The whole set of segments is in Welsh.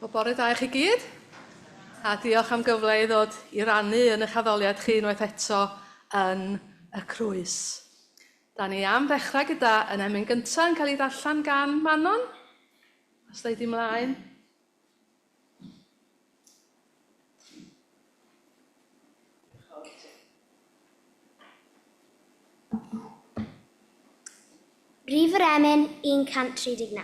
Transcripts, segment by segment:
Wel, bore da i chi gyd, a diolch am gyfle i ddod i rannu yn eich addoliad chi unwaith eto yn y Crwys. Da ni am ddechrau gyda yn emyn gyntaf yn cael ei ddarllen gan Manon. Os da i di mlaen. Brif yr emyn 139.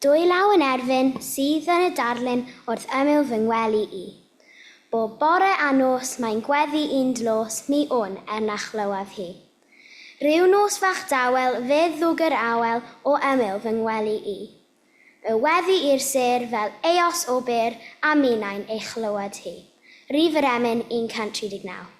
Dwy law yn erfyn sydd yn y darlun wrth ymyl fy ngwely i. Bob bore a nos mae'n gweddu un dlos mi wn er na chlywaf hi. Rhyw nos fach dawel fe ddwg yr awel o ymyl fy ngwely i. Fe weddi i'r sêr fel eos o bur a minnau'n ei chlywed hi. Rif yr emyn 139.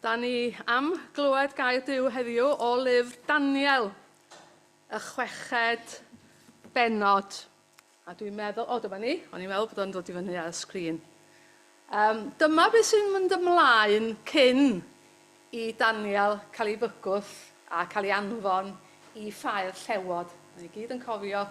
Da ni am glywed gair Duw heddiw o lyfr Daniel, y chweched benod. A dwi'n meddwl, o dyma ni, o'n i'n meddwl bod o'n dod i fyny ar y sgrin. Um, dyma beth sy'n mynd ymlaen cyn i Daniel cael ei fygwth a cael ei anfon i ffair llewod. Mae ni gyd yn cofio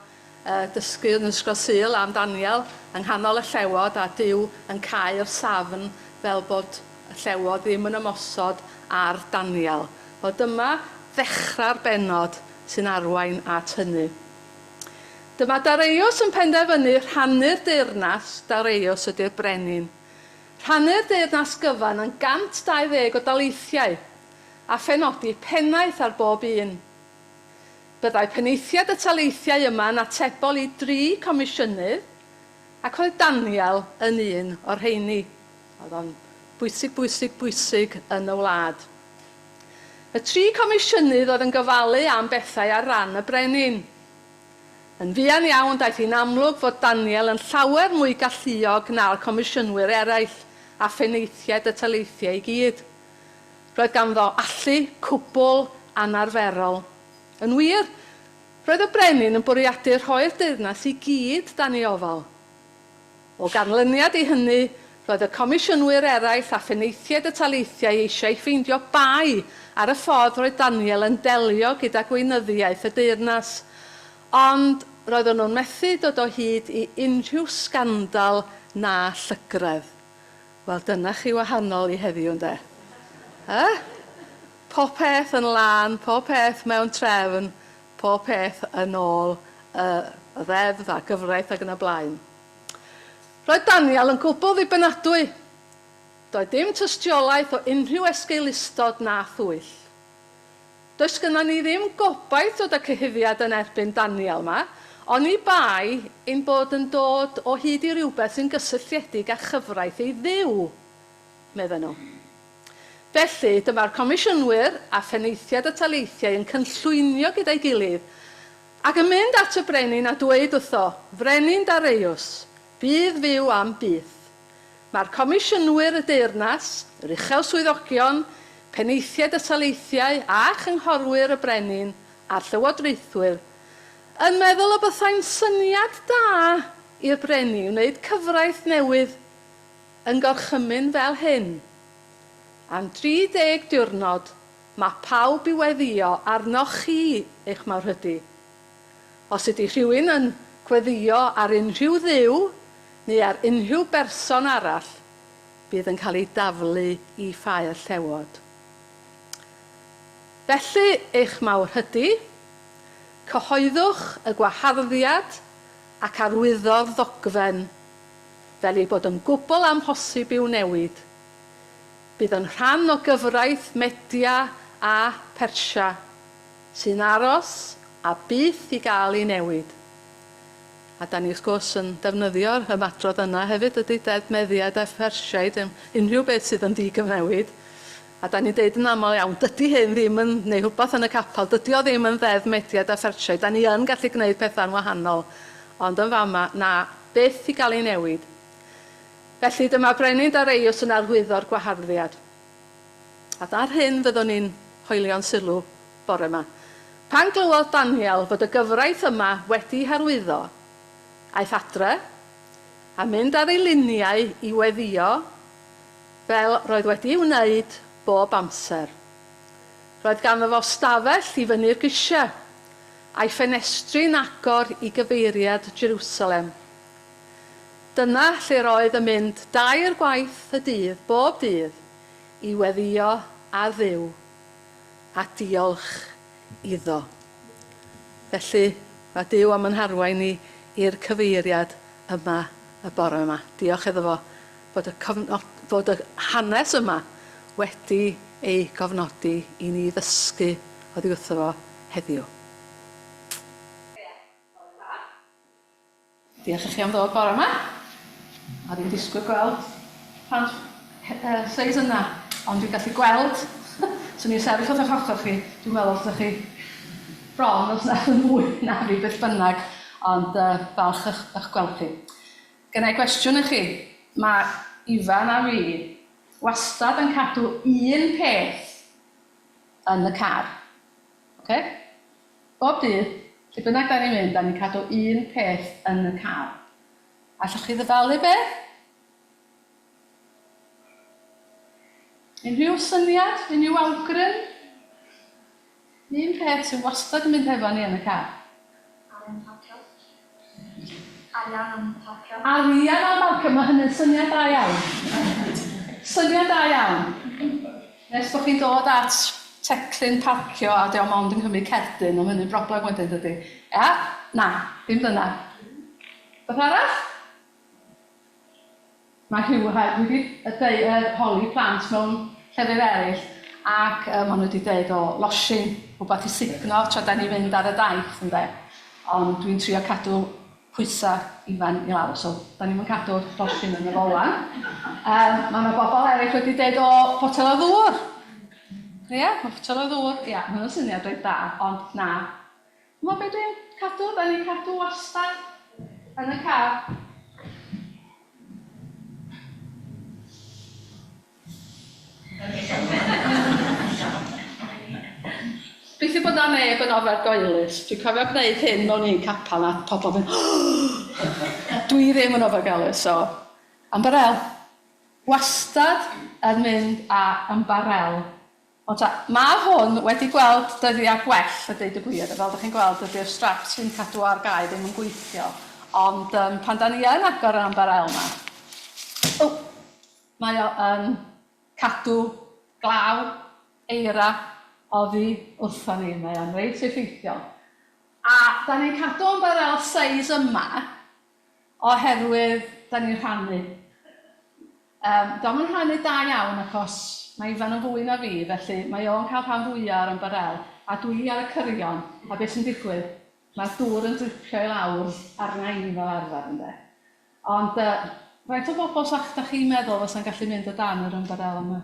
y dysgu yn Ysgol Sul am Daniel yng nghanol y llewod a Duw yn cau'r safn fel bod y llewod ddim yn ymosod ar Daniel. Wel, dyma ddechrau'r bennod sy'n arwain at hynny. Dyma Dareios yn penderfynu rhannu'r deyrnas, Dareios ydy'r brenin. Rhannu'r deyrnas gyfan yn 120 o daleithiau, a phenodi pennaeth ar bob un. Byddai penaethiaid y taleithiau yma yn atebol i dri comisiynydd, ac roedd Daniel yn un o'r rheini. Oedd o'n bwysig, bwysig, bwysig yn y wlad. Y tri comisiynydd oedd yn gofalu am bethau ar ran y brenin. Yn fuan iawn daeth hi'n amlwg fod Daniel yn llawer mwy galluog na'r comisiynwyr eraill a phenaethiaid y taleithiau i gyd. Roedd ganddo allu cwbl anarferol. Yn wir, roedd y brenin yn bwriadu rhoi'r deyrnas i gyd dan ei ofal. O ganlyniad i hynny, roedd y comisiynwyr eraill a phenaethiaid y taleithiau eisiau ffeindio bai ar y ffordd roedd Daniel yn delio gyda gweinyddiaeth y deyrnas, ond roedden nhw'n methu dod o hyd i unrhyw sgandal na llygredd. Wel, dyna chi wahanol i heddiw, ynde? Eh? Popeth yn lân, popeth mewn trefn, popeth yn ôl y Ddeddf a gyfraith ac yn y blaen. Roedd Daniel yn gwbl ddibenadwy. Doedd dim tystiolaeth o unrhyw esgeulustod na thwyll. Does gynnon ni ddim gobaith dod â cyhuddiad yn erbyn Daniel 'ma, oni bai ein bod yn dod o hyd i rywbeth sy'n gysylltiedig â chyfraith ei Dduw, medden nhw. Felly, dyma'r Comisiynwyr a Phenaethiaid y Taleithiau yn cynllwynio gyda'i gilydd, ac yn mynd at y Brenin a dweud wrtho, Frenin Dareiws, bydd fyw am byth. Mae'r Comisiynwyr, y Deyrnas, yr Uchel Swyddogion, Penaethiaid y Taleithiau a Chynghorwyr y Brenin a'r Llywodraethwyr, yn meddwl y bythai'n syniad da i'r Brenin wneud cyfraith newydd Yn gorchymyn fel hyn. Am 30 diwrnod mae pawb i weddio arnoch chi eich mawrhydi. Os ydy rhywun yn gweddio ar unrhyw dduw neu ar unrhyw berson arall, bydd yn cael ei daflu i ffair llewod. Felly, eich mawrhydi, cyhoeddwch y gwaharddiad ac arwyddo'r ddogfen fel ei bod yn gwbl amhosib i'w newid, bydd yn rhan o gyfraith Media a Phersia sy'n aros a byth i gael ei newid. A 'da ni wrth gwrs yn defnyddio'r ymadrodd yna hefyd, dydy, Deddf Mediaid a Phersiaid, unrhyw beth sydd yn ddigyfnewid. A 'dan ni'n deud yn aml iawn, dydi hyn ddim yn neu' rhwbath yn y capel, dydi o ddim yn Ddeddf Mediaid a Searchiaid, 'dan ni yn gallu gneud petha'n wahanol, ond yn fama, na, byth i gael ei newid. Felly, dyma Brenin Dareios yn arwyddo'r gwaharddiad. A da'r hyn fyddwn ni'n hoelio'n sylw bore 'ma. Pan glywodd Daniel fod y gyfraith yma wedi'i harwyddo, aeth adre, a mynd ar ei liniau i weddïo, Fel roedd wedi'i wneud bob amser. Roedd ganddo fo stafell i fyny'r grisiau, a'i ffenestri'n agor i gyfeiriad Jerusalem. Dyna lle roedd yn mynd dair gwaith y dydd bob dydd i weddïo â Duw a diolch iddo. Felly, mae Duw am yn harwain ni i'r cyfeiriad yma y bore 'ma. Diolch iddo fo fod y cofnod, fod y hanes yma wedi ei gofnodi i ni ddysgu oddi wrtho fo heddiw. Diolch i chi am ddod bore ma. Oedd i'n disgwyl gweld plant y seis yna, ond dwi'n gallu gweld, swn i'n sefyll wrth eich ochr chi, dwi'n meddwl os ydych chi bron os nad yn fwy na fi beth bynnag, ond uh, falch eich, eich gweld chi. Gynna i gwestiwn i chi. Mae Ifan a fi wastad yn cadw un peth yn y car. Ok? Bob dydd, lle bynnag da ni'n mynd, da ni'n cadw un peth yn y car. Allwch chi ddyfalu beth? Unrhyw syniad? Unrhyw awgrym? Un peth sydd wastad yn mynd hefo ni yn y car. Arian parcio. Arian am parcio. Arian am barcio, mae hynny'n syniad da iawn. Syniad da iawn. Nes bod chi'n dod at teclyn parcio a diolch ond yn cymryd cerdyn, ond hynny'n broblem wedyn dydy. Ia? Na, dim dyna. Beth arall? Mae Huw hefyd wedi deu- yy holi plant mewn llefydd eryll ac yy ma' nw 'di deud o losin, rwbath i sugno tra 'dan ni'n mynd ar y daith ynde ond dwi'n trio cadw pwysa' Ifan i lawr so 'dan ni'm yn cadw'r losin yn y fola. Yym ma' 'na bobol eryll wedi deud o potel o ddŵr. Ia ma' potel o ddŵr ia ma' hwnna'n syniad reit dda ond na Hwna be dwi'n cadw, dan ni'n cadw wastad yn y car. Gobeithio bod 'na neb yn ofergoelus, dwi'n cofio gwneud hyn mewn un capel a pobl yn mynd oh! Dwi ddim yn ofergoelus so ymbarél. Wastad yn mynd â ymbarél. Ond ta, mae hwn wedi gweld dyddiau gwell a deud y gwir, a fel dych chi'n gweld dydy'r straps sy'n cadw ar gau ddim yn gweithio, ond um, pan da ni yn agor yr amber ail yma, o, mae o yn cadw glaw eira oddi wrthon ni, mae o'n reit effeithiol. A da ni'n cadw amber ail seis yma, Oherwydd 'da ni'n rhannu. Yym, dio'm yn rhannu da iawn achos mae Ifan yn fwy na fi, felly mae o'n cael rhan fwya' o'r ymbarel, a dwi ar y cyrion, a be' sy'n digwydd, mae'r dŵr yn dripio i lawr arna i fel arfer, ynde. Ond yy, faint o bobl 'sach 'da chi'n meddwl fysa'n gallu mynd o dan yr ymbarel yma?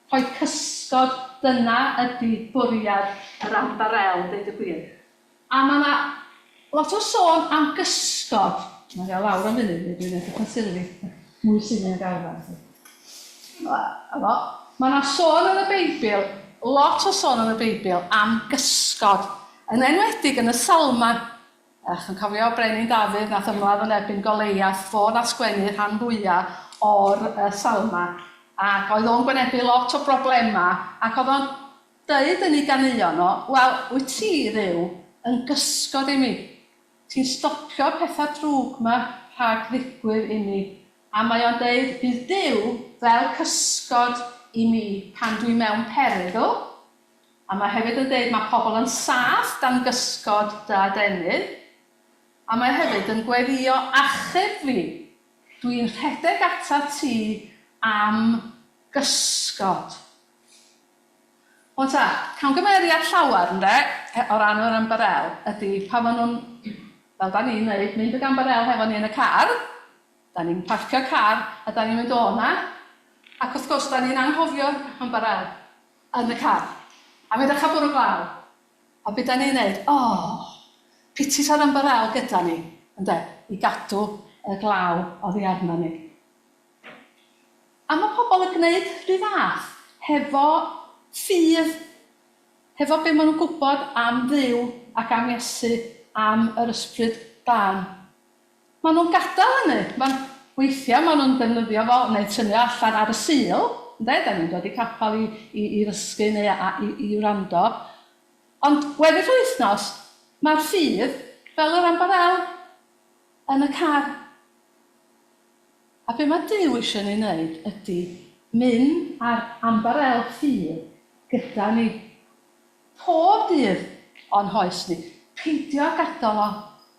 Rhoi cysgod, dyna ydi bwriad yr Ambarel, deud y gwir. A mae 'na lot o sôn am gysgod. Mae hi o lawr am funud, neu dwi'n edrych yn surly. Mwy surly nag arfer i ti. A 'fo. Mae 'na sôn yn y Beibl, lot o sôn yn y Beibl, am gysgod, yn enwedig yn y Salmau. A chi'n cofio Brenin Dafydd nath ymladd yn erbyn Goleiath, fo nath sgwennu rhan fwya o'r yy salma, ac oedd o'n gwynebu lot o broblema, ac oedd o'n deud yn ei ganeuon o, wel, wyt ti, Dduw, yn gysgod i mi, ti'n stopio'r petha drwg ma rhag ddigwydd i mi, a mae o'n deud, bydd Duw fel cysgod i mi pan dwi mewn perygl, A mae hefyd yn deud mae pobl yn saff dan gysgod dy adenydd. A mae hefyd yn gweddïo achub fi. Dwi'n rhedeg atat ti am gysgod. Wan ta, camgymeriad llawer ynde, o ran yr ymbarel, ydi pan maen nhw'n, fel da ni'n wneud, mynd ag ymbarel hefo ni yn y car, da ni'n parcio car a da ni'n mynd o 'na, ac wrth gwrs da ni'n anghofio'r ymbarel. Yn y car. Am edrych ar bwrw glaw. A be da ni'n neud? O! Piti sa'r ymbarél gyda ni, ynde, i gadw y glaw oddi arna ni. A mae pobl yn gwneud rhy fath, hefo ffydd, hefo be maen nhw'n gwybod am Dduw ac am Iesu, am yr Ysbryd Glân. Maen nhw'n gadael hynny. Maen... weithiau maen nhw'n defnyddio fo neu tynnu o allan ar y Sul, ynde, dan ni'n dod i capel i i i ddysgu neu a i i wrando. Ond weddill yr wythnos, mae'r ffydd, fel yr ambarel, yn y car. A be mae Duw eisiau ni wneud ydy mynd ar ambarel ffydd gyda ni pob dydd o'n hoes ni, peidio â gadael o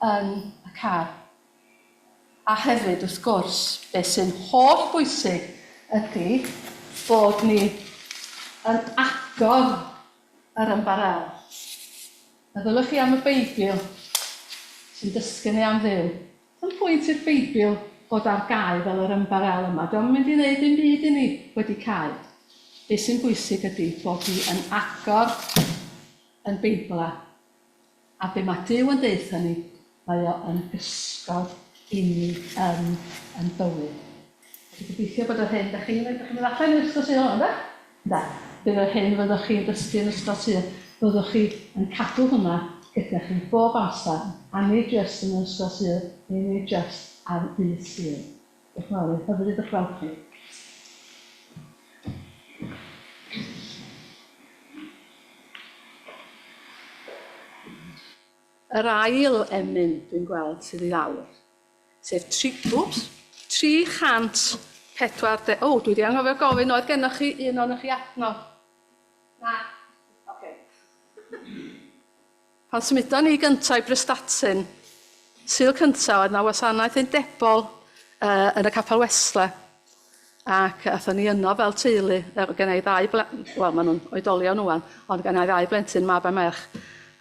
yn y car. A hefyd, wrth gwrs, be sy'n holl bwysig ydy bod ni yn agor yr ymbarel. Meddyliwch chi am y Beibl sy'n dysgu ni am Dduw. Yn pwynt i'r Beibl fod ar gau fel yr ymbarél yma, dio'm yn mynd i ddeud dim byd i ni wedi cau. Be' sy'n bwysig ydi bod ni yn agor yn Beibl a a be' ma' Duw yn deutha ni, mae o yn gysgod inni yn yn bywyd. Felly gobeithio bod yr hyn 'dach chi'n 'dach chi'n mynd allan i'r ysgol sy' nôl ynde? Da. Bydd yr hyn fyddwch chi yn dysgu yn ystod tua, byddwch chi yn cadw hwnna gyda chi bob amser, a nid jyst yn yr ysgol Sul neu nid jyst ar ddydd Sul. Diolch yn fawr, oedd hyfryd ych gweld chi. Yr ail emyn dwi'n gweld sydd i lawr. sef tri, wps, 340, o, dwi 'di anghofio gofyn oedd gennoch chi un ohonoch chi adnodd? Na. Ocê. Pan symudon ni gynta' i Prestatyn, Sul cynta' oedd 'na wasanaeth undebol yy yn y Capel Wesle ac athon ni yno fel teulu yy gynna' i ddau bl- wel ma' nhw'n oedolion ŵan ond gynna' i ddau blentyn mab a merch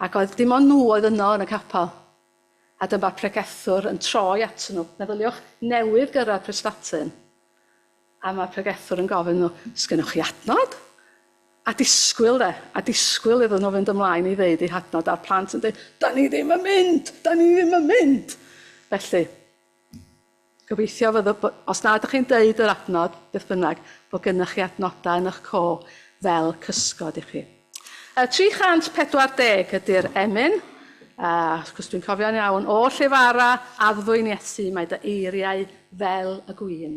ac oedd dim ond nhw oedd yno yn y capel. A dyma pregethwr yn troi atyn nhw. Meddyliwch, newydd gyrraedd Prestatyn, a mae pregethwr yn gofyn iddyn nhw, 'Sgennoch chi adnod? A disgwyl, de, a disgwyl iddyn nhw fynd ymlaen i ddeud eu hadnod, a'r plant yn dweud, 'Da ni ddim yn mynd! Da ni ddim yn mynd! Felly, Gobeithio fyddwch, os na ydych chi'n deud yr adnod, beth bynnag, bod gennych chi adnodau yn eich co fel cysgod i chi. Uh, 340 ydy'r emyn, a wrth gwrs dwi'n cofio'n iawn, o lle fara, addfwyn Iesu, mae dy eiriau fel y gwyn.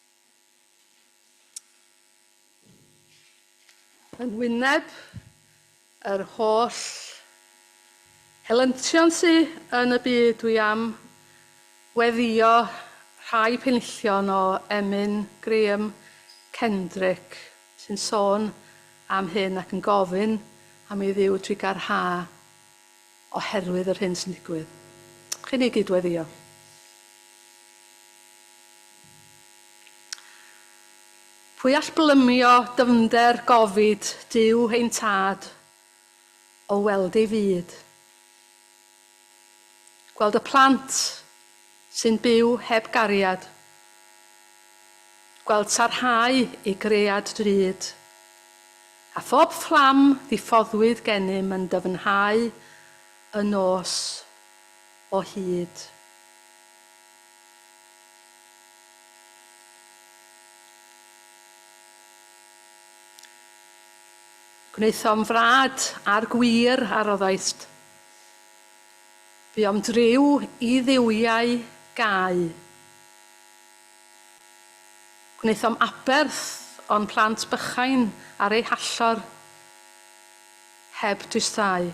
Yn wyneb yr holl helyntion sy yn y byd dwi am weddïo rhai penillion o emyn Graham Kendrick sy'n sôn am hyn ac yn gofyn am ei dduw trigâr ha. oherwydd yr hyn sy'n digwydd. Chi'n ei gyd-weddïo. Pwy all blymio dyfnder gofid Duw ein Tad, o weld ei fyd? Gweld y plant, Sy'n byw heb gariad. Gweld sarhau ei gread drud. A phob fflam ddiffoddwyd gennym yn dyfnhau y nos o hyd. Gwnaethom frad â'r gwir a roddaist. Buom driw i dduwiau gau. Gwnaethom aberth o'n plant bychain ar eu hallor heb dwysau.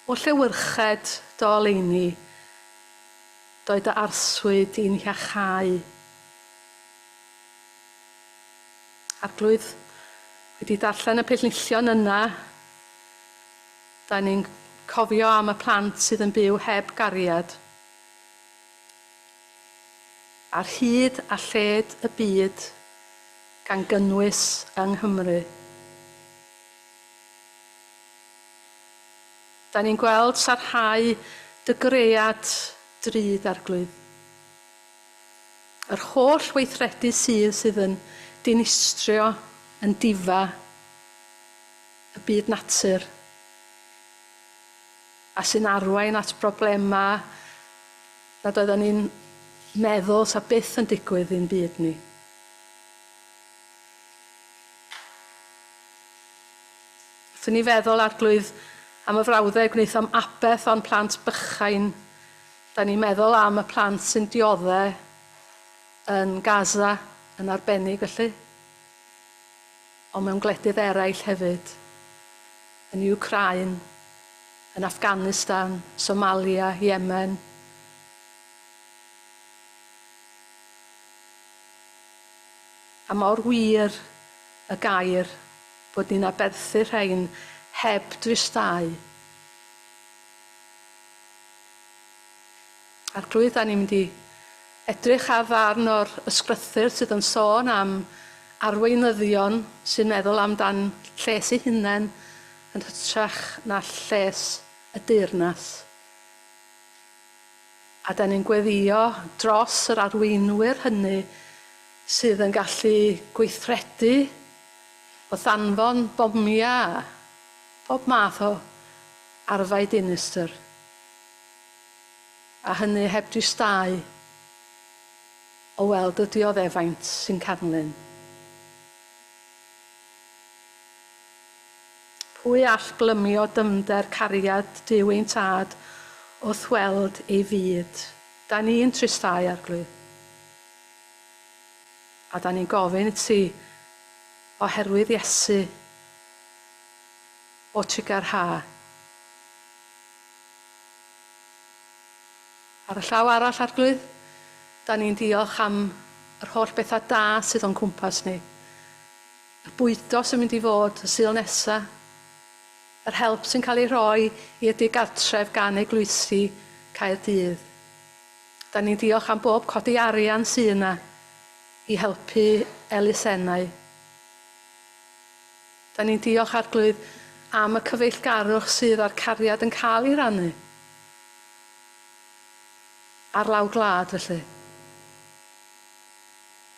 O llewyrched dy oleuni, doedd dy arswyd di'n hiachau. Arglwydd, wedi darllen y pellnillion yna, dan ni'n cofio am y plant sydd yn byw heb gariad, ar hyd a lled y byd, gan gynnwys yng Nghymru. Dan ni'n gweld sarhau dy gread drud, Arglwydd. Yr holl weithredu sydd sydd yn dinistrio yn difa y byd natur a sy'n arwain at broblemau nad oeddan ni'n meddwl 'sa byth yn digwydd i'n byd ni. Wrth i ni feddwl, Arglwydd, am y frawddeg wnaethom aberth o'n plant bychain, Dan ni'n meddwl am y plant sy'n diodde' yn Gaza yn arbennig felly, ond mewn gwledydd eraill hefyd, yn Iwcrain, yn Afghanistan, Somalia, Yemen, a mor wir y gair bod ni'n aberthu rhein heb dristau. Arglwydd, da ni'n mynd i edrych ar ddarn o'r ysgrythur sydd yn sôn am arweinyddion sy'n meddwl amdan lles eu hunain yn hytrach na lles y deyrnas. A da ni'n gweddio dros yr arweinwyr hynny sydd yn gallu gweithredu wrth anfon bomiau a phob math o Arfau dinistr. A hynny heb dristáu o weld y dioddefaint sy'n canlyn. Pwy all glymio dyfnder cariad Duw ein Tad wrth weld ei fyd? Da ni'n tristáu, Arglwydd. A da ni'n gofyn i ti, oherwydd Iesu, O tug ar ha. Ar y llaw arall, Arglwydd, da ni'n diolch am yr holl bethau da sydd o'n cwmpas ni. Y bwydo sy'n mynd i fod y Sul nesa, yr help sy'n cael ei rhoi i'r digartref gan Eglwysi Caerdydd. Da ni'n diolch am bob codi arian sy yna i helpu elusennau. Da ni'n diolch Arglwydd am y cyfeillgarwch sydd a'r cariad yn cael ei rannu ar lawr gwlad felly.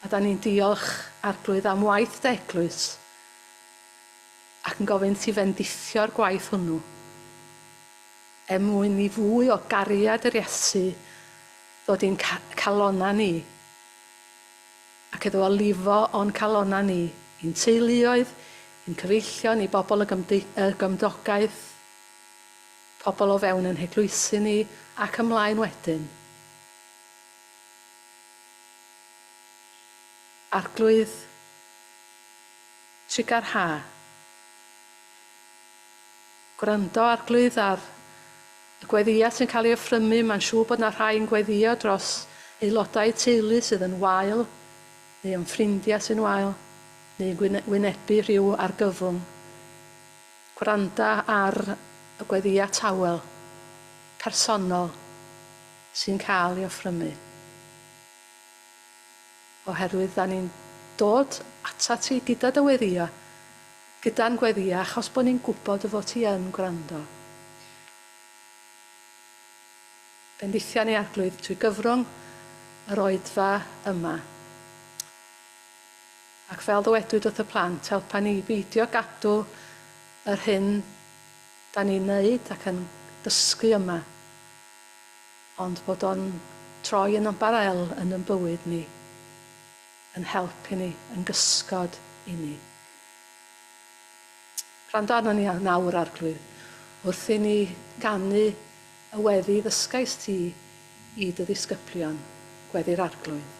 A da ni'n diolch Arglwydd am waith dy eglwys ac yn gofyn ti fendithio'r gwaith hwnnw er mwyn i fwy o gariad yr Iesu ddod i'n calonnau ni. ac iddo fo lifo o'n calonnau ni, i'n teuluoedd, i'n cyfeillion, i bobl y y gymdogaeth, pobl o fewn ein heglwysi ni, ac ymlaen wedyn. Arglwydd, trigâr Ha. Gwrando ar glwyddaf y gweddïau sy'n cael ei offrymu, mae'n siŵr bod 'na rhai yn gweddïo dros aelodau teulu sydd yn wael, neu am ffrindiau sy'n wael, neu yn wynebu rhyw argyfwng. Gwranda ar y gweddïau tawel, personol, sy'n cael ei offrymu. Oherwydd 'da ni'n dod atat ti gyda dy weddia', gyda'n gweddia' achos bo' ni'n gwbod dy fod ti yn gwrando. Bendithion ei Arglwydd trwy gyfrwng yr oedfa yma. Ac fel ddywedwyd wrth y plant, helpa ni i beidio gadw yr hyn 'da ni'n neud ac yn dysgu yma. ond bod o'n troi yn ymbarél yn yn bywyd ni, yn help i ni, yn gysgod i ni. Gwrando arnon ni nawr, Arglwydd, wrth i ni ganu y weddi ddysgaist ti i dy ddisgyblion, Gweddi'r Arglwydd.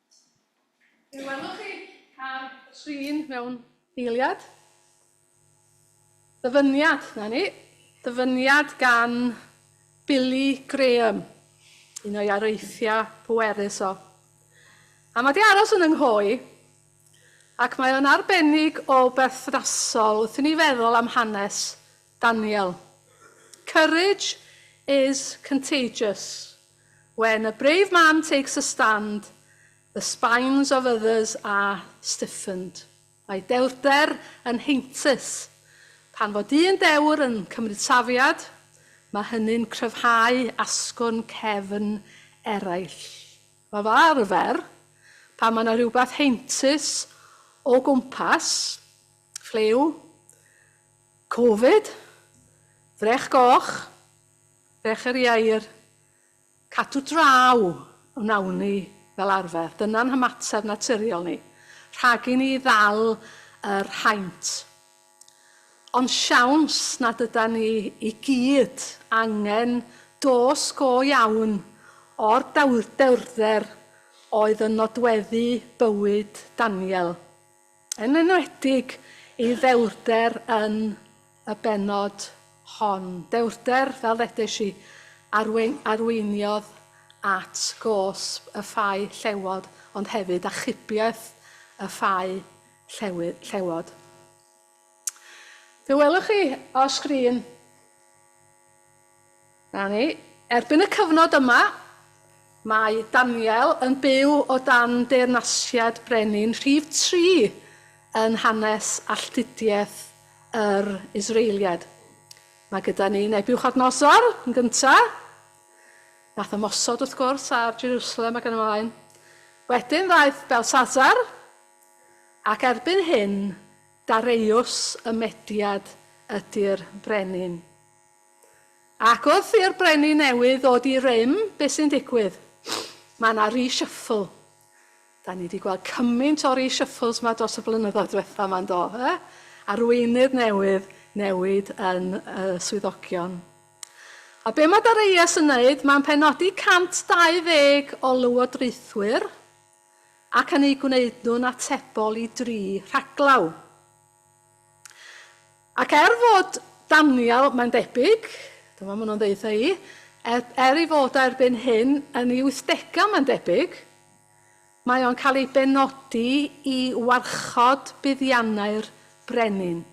Fe welwch chi car trin mewn eiliad. Ddyfyniad, na ni, ddyfyniad gan Billy Graham, un o'i areithiau pwerus o. A mae di aros yn ynghoe, ac mae o'n arbennig o berthnasol wrth i ni feddwl am hanes Daniel. Courage is contagious. When a brave man takes a stand, the spines of others are stiffened, mae dewrder yn heintus. Pan fo dyn dewr yn cymryd safiad, mae hynny'n cryfhau asgwrn cefn eraill. Fel arfer, pan mae yna rhywbeth heintus o gwmpas, ffliw, covid, frech goch, Becher Ieir, Cadw draw wnawn ni fel arfer, dyna'n hymateb naturiol ni, rhag i ni ddal yr haint. Ond siawns nad ydan ni i gyd angen dos go iawn o'r dewrder oedd yn nodweddu bywyd Daniel. yn enwedig ei ddewrder yn y bennod hon, dewrder, fel ddeudais i, arwei- arweiniodd at gosb y ffau llewod, ond hefyd achubiaeth y ffau llewy- llewod. Fe welwch chi o sgrin 'Na ni. Erbyn y cyfnod yma, mae Daniel yn byw o dan deyrnasiad brenin rhif tri yn hanes alltudiaeth yr Israeliad. Mae gyda ni Nebiwchodynosor yn gynta', nath ymosod wrth gwrs ar Jerusalem ac yn y mlaen. Wedyn ddaeth Belsasar, ac erbyn hyn, Dareiws y Mediad ydi'r brenin. Ac wrth i'r Brenin newydd ddod i rym, be sy'n digwydd? Mae yna reshuffle. Da ni di gweld cymaint o reshuffles ma dros y blynyddoedd diwetha ma yndo? E? Arweinydd newydd, newid yn y swyddogion. A be mae Dareias yn neud? Mae'n penodi 120 o lywodraethwyr ac yn eu gwneud nhw'n atebol i dri rhaglaw. Ac er fod Daniel, mae'n debyg, dyma maen nhw'n ddeitha i, er, er ei fod o erbyn hyn yn ei wythdegau mae'n debyg, mae o'n cael ei benodi i warchod buddiannau'r brenin.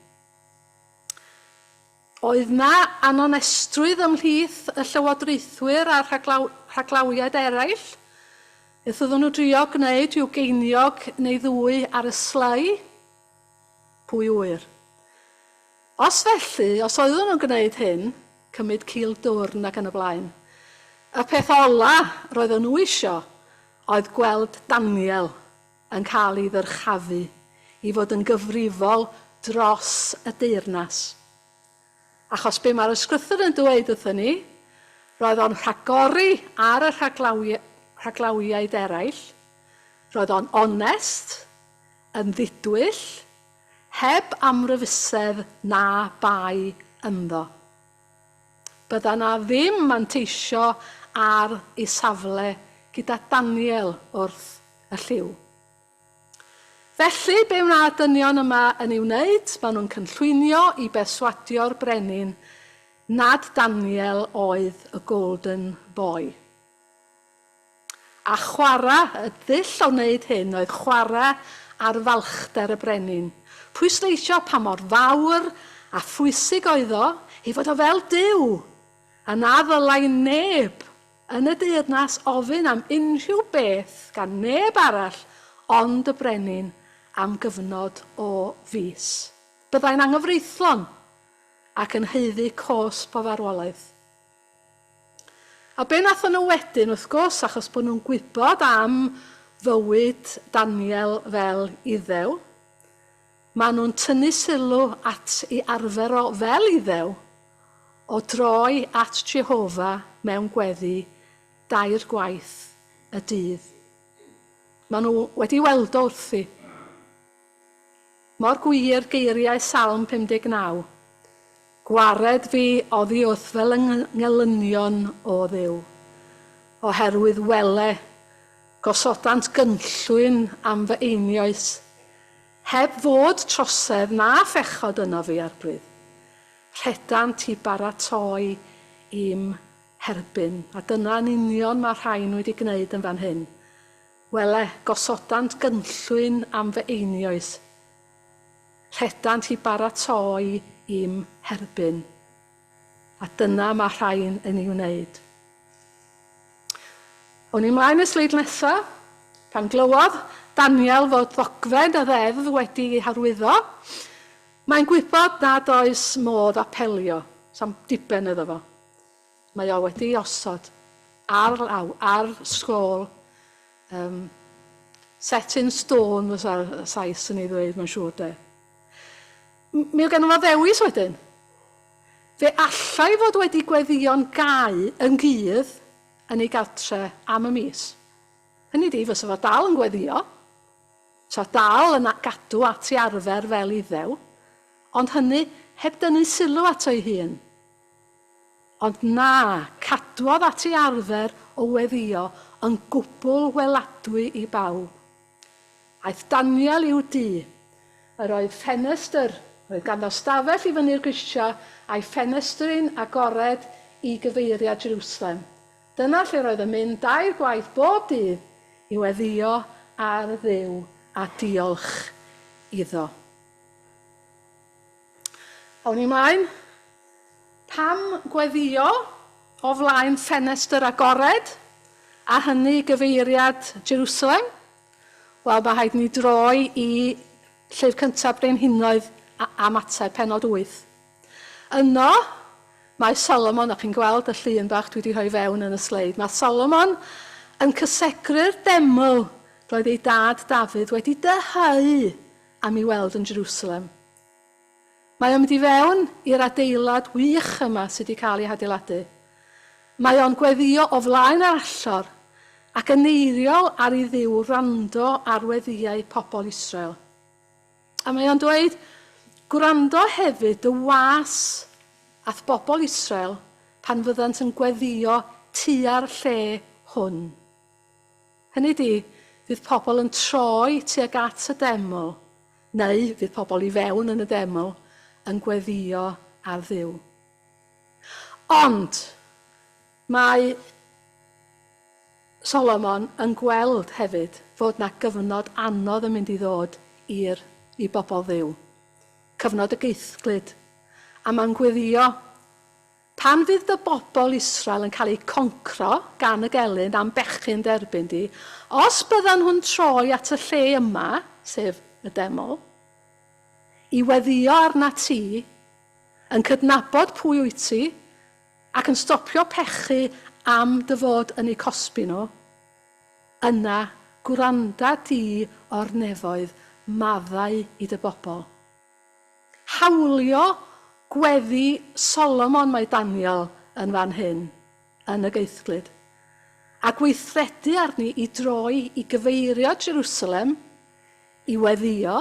Oedd na anonestrwydd ymhlith y llywodraethwyr a'r rhaglaw, rhaglawiaid eraill? Beth oedden nhw drio gwneud, rhyw geiniog neu ddwy ar y slai? Pwy ŵyr? Os felly, os oeddwn nhw'n gwneud hyn, cymryd cil dwrn ac yn y blaen, y peth ola' roeddwn nhw isio oedd gweld Daniel yn cael ei ddyrchafu i fod yn gyfrifol dros y deyrnas. Achos be' mae'r Ysgrythur yn dweud wrthyn ni, roedd o'n rhagori ar y rhaglawi- rhaglawiaid eraill, roedd o'n onest, yn ddidwyll, heb amryfusedd na bai ynddo. Bydda 'na ddim manteisio ar ei safle gyda Daniel wrth y llyw. Felly, be wna'r dynion yma yn ei wneud? Maen nhw'n cynllwynio i berswadio'r brenin nad Daniel oedd y golden boy. A chwarae, y dull o wneud hyn oedd chwarae ar falchder y brenin, pwysleisio pa mor fawr a phwysig oedd o ei fod o fel Duw, a na ddylai neb yn y deyrnas ofyn am unrhyw beth gan neb arall ond y brenin am gyfnod o fis. Byddai'n anghyfreithlon ac yn haeddu cosb o farwolaeth. A be nathon nhw wedyn wrth gwrs achos bod nhw'n gwybod am fywyd Daniel fel Iddew, ma' nhw'n tynnu sylw at i arfer o fel Iddew o droi at Jehovah mewn gweddi dair gwaith y dydd. Ma' nhw wedi weld o wrthi. Mor gwir geiriau Salm 59, Gwared fi oddi wrth fy ngelynion, O Dduw, oherwydd wele, gosodant gynllwyn am fy einioes, heb fod trosedd na phechod ynof fi ar brydd. Rhedant i baratoi i'm herbyn. A dyna yn union mae'r rhain wedi gwneud yn fan hyn. Wele, gosodant gynllwyn am fy einioes. Rhedant i baratoi i'm herbyn. A dyna mae rhain yn ei wneud. Awn ni mlaen i'r sleid nesa. Pan glywodd Daniel fod ddogfen y ddeddf wedi ei harwyddo, mae'n gwybod nad oes modd apelio, 'sam diben iddo fo. Mae o wedi'i osod ar law ar sgôl yym set in stone fysa'r Sais yn ei ddweud mae'n siŵr de. M- mi oedd ganddo fo ddewis wedyn. Fe allai fod wedi gweddïo'n gau yn gudd yn ei gartre am y mis. Hynny ydi, fysa fo dal yn gweddïo, fysa dal yn a- gadw at ei arfer fel Iddew, ond hynny heb dynnu sylw ato ei hun. Ond na, cadwodd at ei arfer o weddïo yn gwbl weladwy i bawb. Aeth Daniel i'w dŷ. Yr oedd ffenestr, roedd ganddo stafell i fyny'r grisiau a'i ffenestri'n agored i gyfeiriad Jerwsalem. Dyna lle roedd yn mynd dair gwaith bob dydd i weddïo ar Dduw a diolch iddo. Awn ni mlaen. Pam gweddïo o flaen ffenestr agored, a hynny i gyfeiriad Jerusalem? Wel, mae rhaid i ni droi i Llyfr Cyntaf Brenhinoedd a, a Matai, penod 8. Yno, mae Solomon, a chi'n gweld y llun bach dwi wedi rhoi fewn yn y sleid, mae Solomon yn cysegru'r deml roedd ei dad Dafydd wedi dyheu am ei weld yn Jerusalem. Mae o'n mynd i fewn i'r adeilad wych yma sy 'di cael ei hadeiladu. Mae o'n gweddio o flaen yr allor, ac yn eiriol ar i Dduw wrando ar weddïau pobl Israel. A mae o'n dweud, Gwrando hefyd dy was a'th bobl Israel pan fyddant yn gweddio tua'r lle hwn. Hynny ydi, fydd pobl yn troi tuag at y deml, neu fydd pobl i fewn yn y deml yn gweddïo ar Dduw. Ond mae Solomon yn gweld hefyd fod 'na gyfnod anodd yn mynd i ddod i'r i bobl Dduw, cyfnod y geithglyd, a mae'n gweddïo Pan fydd dy bobl Israel yn cael eu concro gan y gelyn a'm bechgyn d'erbyn di, os byddan nhw'n troi at y lle yma, sef y deml, i weddïo arnat ti, yn cydnabod pwy wyt ti, ac yn stopio pechu am dy fod yn eu cosbi nhw, yna gwranda di o'r nefoedd, maddau i dy bobl, Hawlio gweddi Solomon mae Daniel yn fan hyn yn y geithglyd, a gweithredu arni i droi i gyfeirio Jerusalem i weddïo,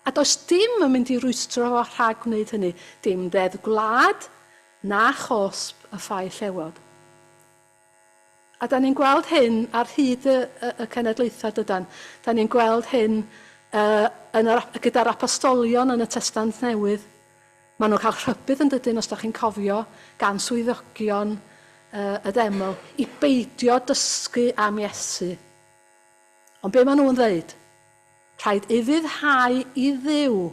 a does dim yn mynd i rwystro fo rhag gwneud hynny, dim deddf gwlad na chosb y ffae llewod. A 'dan ni'n gweld hyn ar hyd y y y cenedlaethau, dydan? 'Dan ni'n gweld hyn yy yn yr ap- gyda'r apostolion yn y Testament Newydd. Maen nhw'n cael rhybudd yn dydyn, os da chi'n cofio, gan swyddogion yy y deml, i beidio dysgu am Iesu. Ond be maen nhw'n ddeud? Rhaid ufuddhau i Dduw.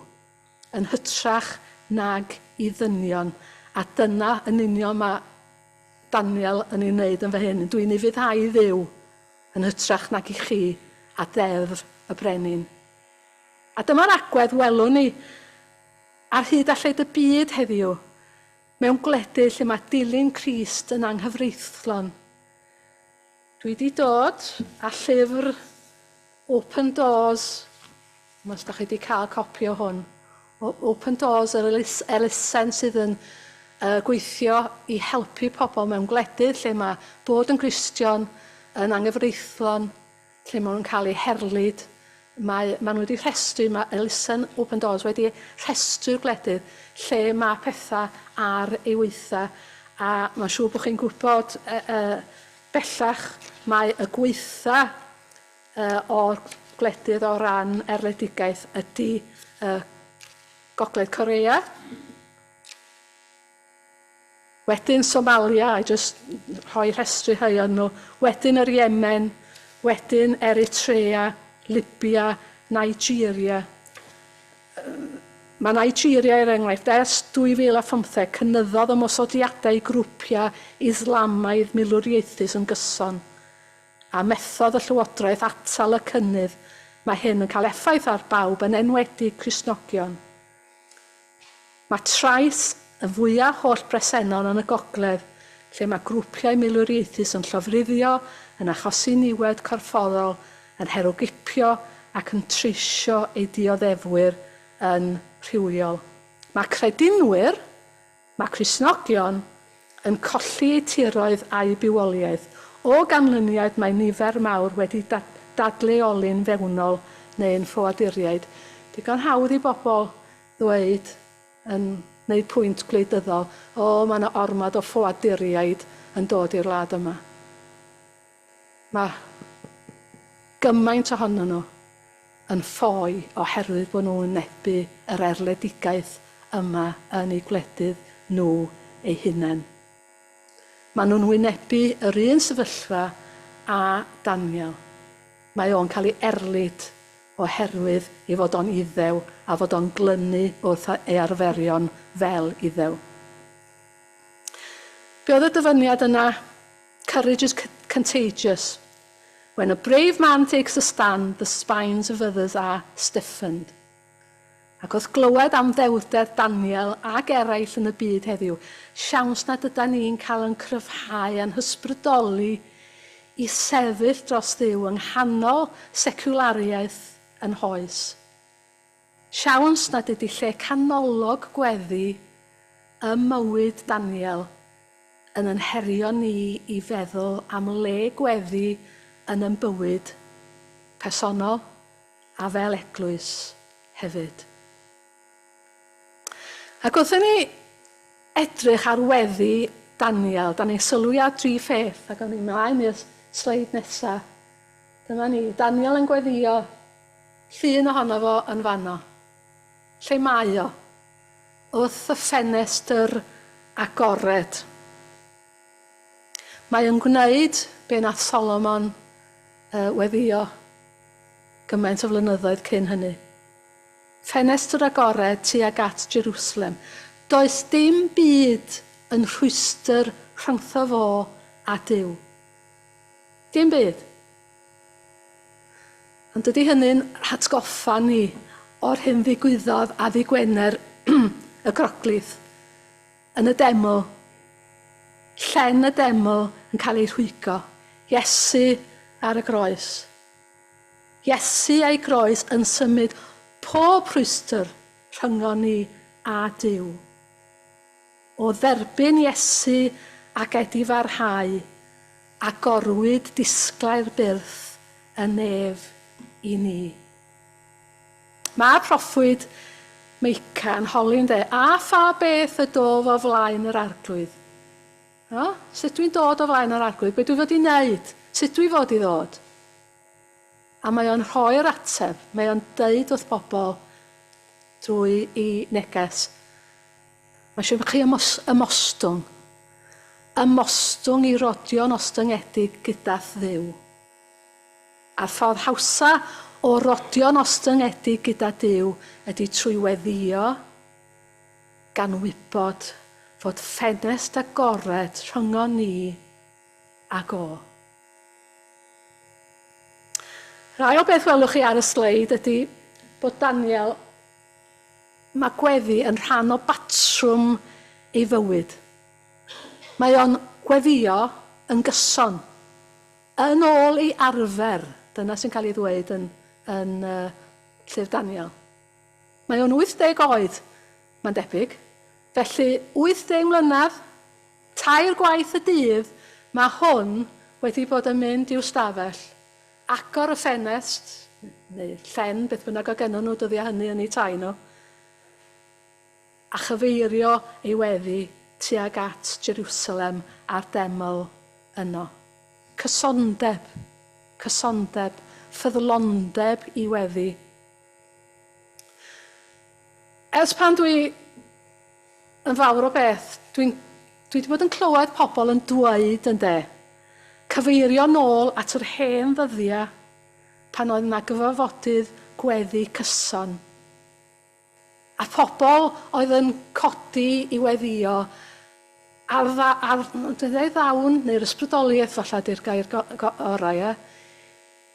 yn hytrach nag i ddynion, a dyna yn union mae Daniel yn ei wneud yn fan hyn, Dw i'n ufuddhau i Dduw yn hytrach nag i chi, a Deddf y Brenin. A dyma'r agwedd welwn ni ar hyd a lled y byd heddiw, mewn gwledydd lle mae dilyn Crist yn anghyfreithlon. Dwi 'di dod â llyfr Open Doors, ch'mo' os 'dach chi 'di ca'l copi o hwn, o Open Doors yr elus- elusen sydd yn yy gweithio i helpu pobl mewn gwledydd lle ma' bod yn Gristion yn anghyfreithlon, lle ma' nhw'n cael eu herlid, Mae maen wedi rhestru, mae elusen Open Doors wedi rhestru'r gwledydd lle mae pethau ar ei waethaf a mae'n siŵr bod chi'n gwybod yy yy bellach mae y gwaethaf yy o'r gwledydd o ran erledigaeth ydy yy Gogledd Corea. Wedyn Somalia, I jyst rhoi rhestru rhai o'n nhw, wedyn yr Yemen, wedyn Eritrea, Libya, Nigeria. Mae Nigeria er enghraifft, ers 2015 cynyddodd ymosodiadau i grwpiau Islamaidd milwriaethus yn gyson, a methodd y llywodraeth atal y cynnydd, mae hyn yn cael effaith ar bawb yn enwedig Cristnogion. Mae trais y fwyaf holl-bresennol yn y gogledd, lle mae grwpiau milwriaethus yn llofruddio, yn achosi niwed corfforol, yn herwgipio ac yn treisio eu dioddefwyr yn rhywiol. Mae credinwyr, mae Cristnogion, yn colli eu tiroedd a'u bywoliaeth. O ganlyniad mae nifer mawr wedi dadleoli'n fewnol neu'n ffoaduriaid. Digon hawdd i bobl ddweud, yn gwneud pwynt gwleidyddol, 'O, mae 'na ormod o ffoaduriaid yn dod i'r wlad yma. Mae gymaint ohonyn nhw yn ffoi oherwydd bod nhw'n wynebu yr erledigaeth yma yn eu gwledydd nhw eu hunain. Maen nhw'n wynebu yr un sefyllfa â Daniel. Mae o'n cael ei erlid oherwydd ei fod o'n Iddew a fod o'n glynu wrth ei arferion fel Iddew. Be oedd y dyfyniad yna? Courage is contagious. When a brave man takes a stand, the spines of others are stiffened. Ac wrth glywed am ddewrder Daniel ac eraill yn y byd heddiw, siawns nad ydan ni'n cael yn cryfhau a'n hysbrydoli i sefyll dros Dduw yng nghanol seciwlariaeth yn hoes. Siawns nad ydi lle canolog gweddi ym mywyd Daniel yn yn herio ni i feddwl am le gweddi yn yn bywyd personol a fel eglwys hefyd. Ac wrth i ni edrych ar weddi Daniel, da ni'n sylwi ar dri pheth, ac awn ni mlaen i'r sleid nesa. Dyma ni, Daniel yn gweddio, Llun ohono fo yn fanno. Lle mae o? Wrth y ffenestr agored. Mae o'n gwneud be nath Solomon yy weddio gymaint o flynyddoedd cyn hynny. Ffenestr agored tuag at Jerusalem. Does dim byd yn rhwystr rhyngtho fo a Duw. Dim byd. Ond dydy hynny'n hatgoffa ni o'r hyn ddigwyddodd a ddydd Gwener y Groglith yn y demo, llen y demo yn cael ei rhwygo, Iesu ar y groes. Iesu a'i groes yn symud pob rhwystr rhyngon ni a Duw. O dderbyn Iesu a gedifarhau, agorwyd disglau'r byrth yn nef i ni. Mae'r proffwyd Meica yn holi'n dde, a pha beth y dof o flaen yr Arglwydd. O, sut dwi'n dod o flaen yr Arglwydd, be dwi fod i wneud, sut dwi fod i ddod? A mae o'n rhoi'r ateb, mae o'n deud wrth bobl drwy i neges, Mae eisiau i chi ymostwng. Ymostwng i rodio'n ostyngedig gyda Dduw. A'r ffordd hawsa o rodio'n ostyngedig gyda Duw ydy trwy weddïo gan wybod fod ffenest agored rhyngon ni ag O. Yr ail beth welwch chi ar y sleid ydy bod Daniel Mae gweddi yn rhan o batrwm ei fywyd. Mae o'n gweddïo yn gyson. Yn ôl ei arfer, dyna sy'n cael ei ddweud yn yn Llyfr Daniel. Mae o'n 80 oed, mae'n debyg. Felly, 80 mlynedd, tair gwaith y dydd, mae hwn wedi bod yn mynd i'w stafell. agor y ffenest, neu llen, beth bynnag oedd gennyn nhw dyddiau hynny yn eu tai nhw, a chyfeirio ei weddi tuag at Jerusalem a'r deml yno. Cysondeb, cysondeb, ffyddlondeb i weddi. Ers pan dwi yn fawr o beth, dwi'n, dwi wedi bod yn clywed pobl yn dweud, ynde, cyfeirio nôl at yr hen ddyddia pan oedd yna gyfarfodydd gweddi cyson, a phobl oedd yn codi i weddio ar dda, ar, dwi ddeud ddawn, neu'r ysbrydoliaeth falla di'r gair go, go, orau, ie?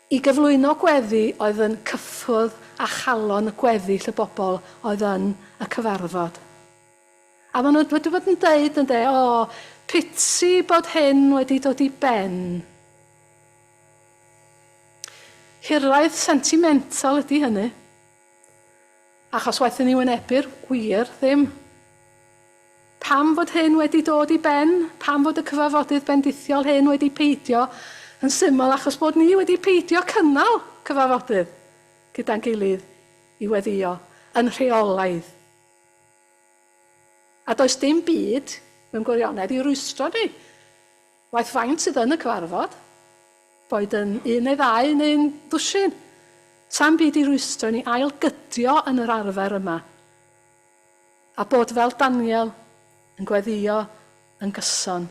I gyflwyno gweddi oedd yn cyffwrdd â chalon y gweddill y bobl oedd yn y cyfarfod. A maen nhw wedi bod yn deud, ynde, O, piti bod hyn wedi dod i ben. Hiraeth sentimental ydy hynny. Achos waethon ni wynebu'r gwir ddim. Pam fod hyn wedi dod i ben? Pam fod y cyfarfodydd bendithiol hyn wedi peidio? Yn syml, achos bod ni wedi peidio cynnal cyfarfodydd gyda'n gilydd i weddïo yn rheolaidd. A does dim byd, mewn gwirionedd, i rwystro ni. Waeth faint sydd yn y cyfarfod, boed yn un neu ddau neu'n ddwsin, sa'm byd i rwystro i ni ail-gydio yn yr arfer yma, a bod fel Daniel yn gweddïo yn gyson.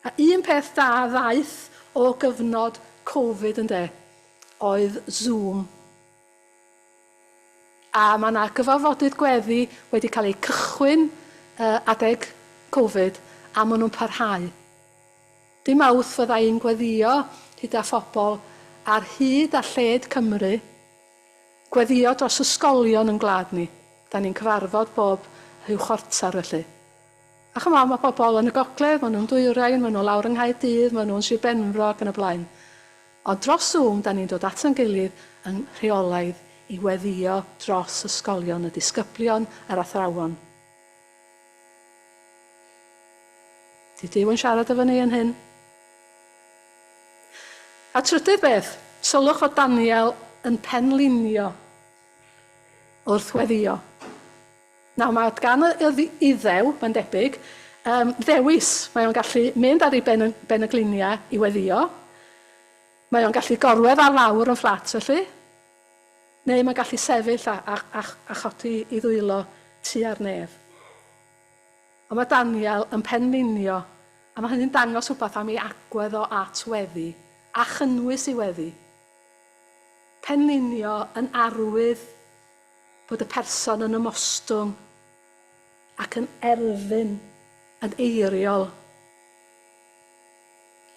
A un peth da ddaeth o gyfnod Covid, ynde, oedd Zoom. A mae 'na gyfarfodydd gweddi wedi cael eu cychwyn adeg covid a maen nhw'n parhau. Dy Mawrth fydda i'n gweddïo hyd â phobl ar hyd a lled Cymru, gweddïo dros ysgolion yn gwlad ni, 'da ni'n cyfarfod bob rhyw chwarter felly. A ch'mod, mae pobl yn y gogledd, maen nhw'n Dwyrain, maen nhw lawr yng Nghaerdydd, maen nhw'n Sir Benfro ac yn y blaen. Ond dros Zoom 'da ni'n dod ato'n gilydd yn rheolaidd i weddïo dros ysgolion, y disgyblion a'r athrawon. Dydy Duw yn siarad efo ni yn hyn. A trydydd beth, sylwch fod Daniel yn penlinio wrth weddïo. Nawr, mae gan yr Iddew, mae'n debyg, ddewis. Mae o'n gallu mynd ar ei ben yn ben y gliniau i weddïo, mae o'n gallu gorwedd ar lawr yn fflat felly, neu mae'n gallu sefyll a, a, a, a chodi i ddwylo tua'r nef. Ond mae Daniel yn penlinio, a mae hynny'n dangos rhywbeth am ei agwedd o at weddi, a chynnwys ei weddi. Penlinio yn arwydd bod y person yn ymostwng ac yn erfyn yn eiriol.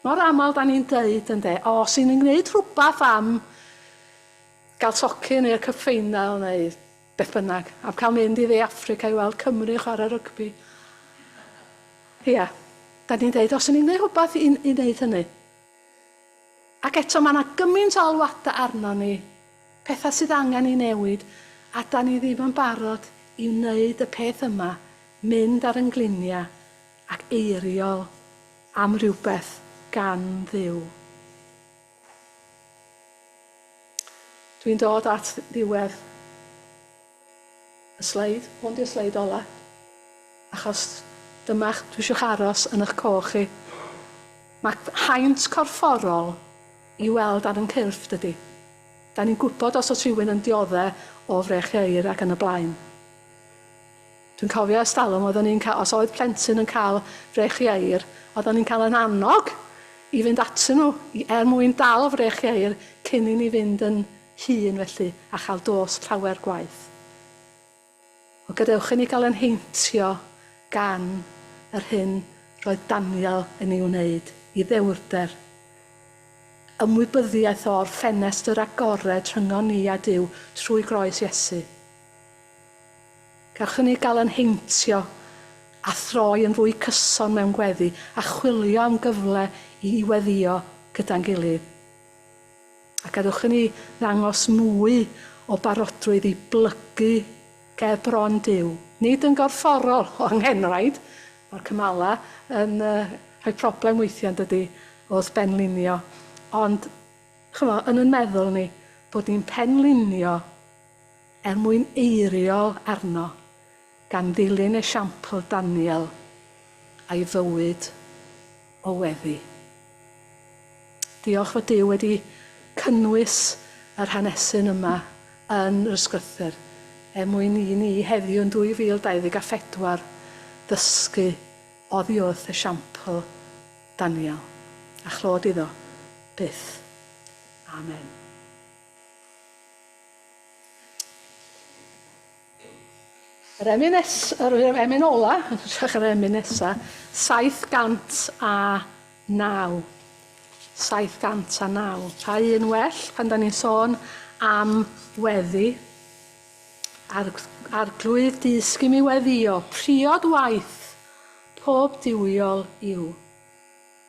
Mor aml da ni'n deud ynde, o, os y'n ni'n gwneud rhywbeth am gael tocyn neu y Cup Final neu beth bynnag, am cael mynd i dde Affrica i weld Cymru yn chwarae rygbi. Ia, da ni'n deud, os y'n ni'n gwneud rhywbeth i, i wneud hynny. Ac eto, mae 'na gymaint o alwadau arnon ni, pethau sydd angen ei newid, a 'dan ni ddim yn barod i wneud y peth yma, mynd ar 'yn ngliniau ac eiriol am rywbeth gan Dduw. Dwi'n dod at ddiwedd. Y sleid, hwn di'r sleid ola. Achos dyma'ch, dwi isio'ch aros yn 'ych coch chi. Mae haint corfforol i weld ar 'yn cyrff, dydi? Da ni'n gwybod os oes rhywun yn diodde' o frech ieir ac yn y blaen. Dwi'n cofio ers talwm oeddwn i'n cael, os oedd plentyn yn cael frech ieir, oeddwn i'n cael 'yn annog i fynd atyn nhw i, er mwyn dal frech ieir cyn i ni fynd yn hun felly a chael dos llawer gwaith. Ond gadewch i ni gael ein heintio gan yr hyn roedd Daniel yn ei wneud i ddewrder. Ymwybyddiaeth o'r ffenestr agored rhyngon ni a Duw trwy groes Iesu. Gawch i ni gael ein heintio a throi yn fwy cyson mewn gweddi a chwilio am gyfle i i weddio gyda'n gilydd. A gadewch i ni ddangos mwy o barodrwydd i blygu ger bron Duw. Nid yn gorfforol, o anghenraid, mae'r Cymala yn rhoi problem weithiau, yn dydi, wrth benlinio, ond, chimo, yn yn meddwl ni, bod ni'n penlinio er mwyn eiriol arno, gan ddilyn esiampl Daniel a'i fywyd. o weddi. Diolch fod Duw wedi cynnwys yr hanesyn yma yn yr Ysgrythur er mwyn i ni heddiw yn 2024 ddysgu oddi wrth esiampl Daniel, a chlod iddo byth. Amen. Yr emyn nes- yr emyn ola, yn hytrach yr emyn nesa, 709. 709. Pa un well pan da ni'n sôn am weddi? Arg, arglwydd dysg i mi weddio, priod waith, pob diwiol yw.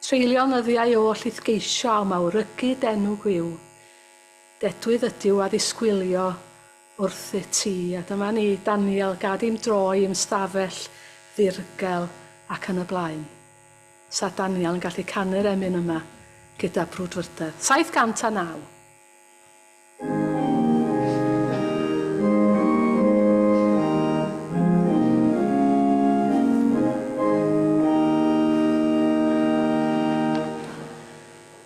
Treulio nyddiau oll i'th geisio a'm awrygu denw gwiw. Dedwydd ydyw a ddisgwylio, wrthyt ti, a dyma ni, Daniel, gad i'm droi i'm stafell ddirgel, ac yn y blaen. Sa Daniel yn gallu canu'r emyn yma gyda brwdfrydedd. 709.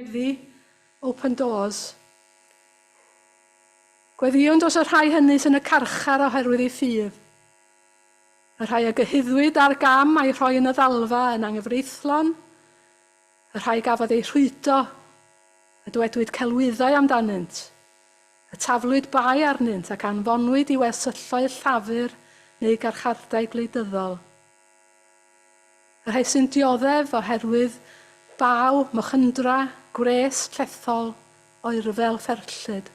Gweddi, open doors. Gweddïwn dros y rhai hynny sy'n y carchar oherwydd eu ffydd. Y rhai a gyhuddwyd â'r gam a'i rhoi yn y ddalfa yn anghyfreithlon, y rhai gafodd eu rhwydo, y dwedwyd celwyddau amdanynt, y taflwyd bai arnynt ac anfonwyd i wersylloedd Llafur neu garchardai gwleidyddol, Rhai sy'n dioddef oherwydd baw, mochyndra, gwres llethol, oerfel fferllyd.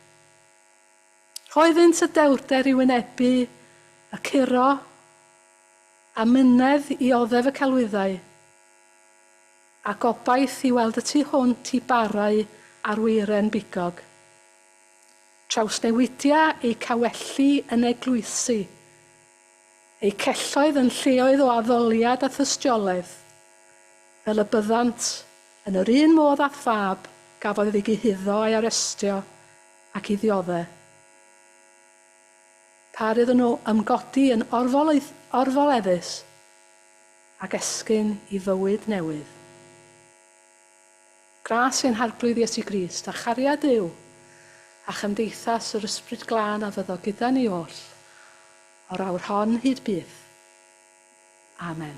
Rhoeddynt y dewrder i wynebu y curo, a myned i oddef y celwyddau, a gobaith i weld y tu hwnt i barau ar weiren bigog. Trawsnewidia eu cawelli yn eglwysi, eu celloedd yn lleoedd o addoliad a thystiolaeth, fel y byddant, yn yr un modd â phab, gafodd ei gyhuddo a'i arestio ac i ddiodde'. Pa rydd yn o ymgodi yn orfoleuth, orfoleddus, ac esgyn i fywyd newydd. Gras ein Harglwydd Iesu Grist, a chariad yw, a chymdeithas yr Ysbryd Glân a fyddo gyda ni oll, o'r awr hon hyd byth. Amen.